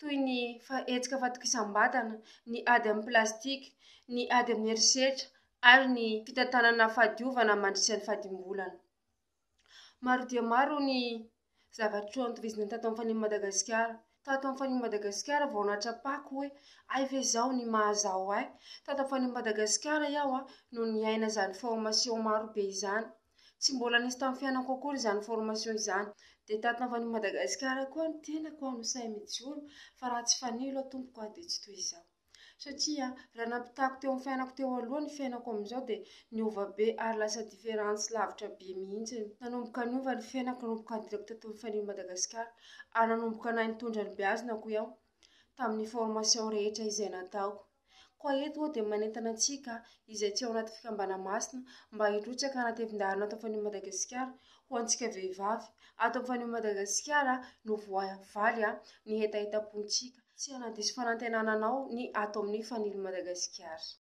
toy ny hetsika fahatokisam-batana, ny ady amin'ny plastika, ny ady amin'ny herisetra ary ny fitantanana fahadiovana mandritra ny fahadimbolana. Maro dia maro ny zavatra notohizana tato amin'ny Fanirian'i Madagasikara. Tato amin'ny Fanirian'i Madagasikara vao nahatrapako hoe hay ve izao ny maha-izaho ahy. Tato amin'ny Fanirian'i Madagasikara aho no niaina izany formasio marobe izany. Tsy mbola nisy tamin'ny fiainako akory izany formation izany. Dia tato navan'i Madagasikara koa ny tenako no sahy mijoro fa raha tsy fanilo aho tompoko aho dia tsy toy izao. Satria raha nampitahako teo amin'ny fiainako teo aloha ny fiainako amin'izao dia niova be ary lasa différence lavitra be mihitsy. Nanomboka niova ny fiainako nanomboka nidirako tato amin'ny fanilo Madagasikara ary nanomboka nahay nitondra ny beazina hoy aho tamin'ny formation rehetra izay nataoko. Koa eto aho dia manentana antsika izay tsy ao anaty fikambana masina mba hirotsaka hanatevin-dahana ato Anfanio Madagasikara ho antsika vehivavy. Ato Anfanio Madagasikara no voavaly ny hetahetam-pontsika. Tsy hanadiso fanantenana anao ny ato amin'ny Fanilo Madagasikara.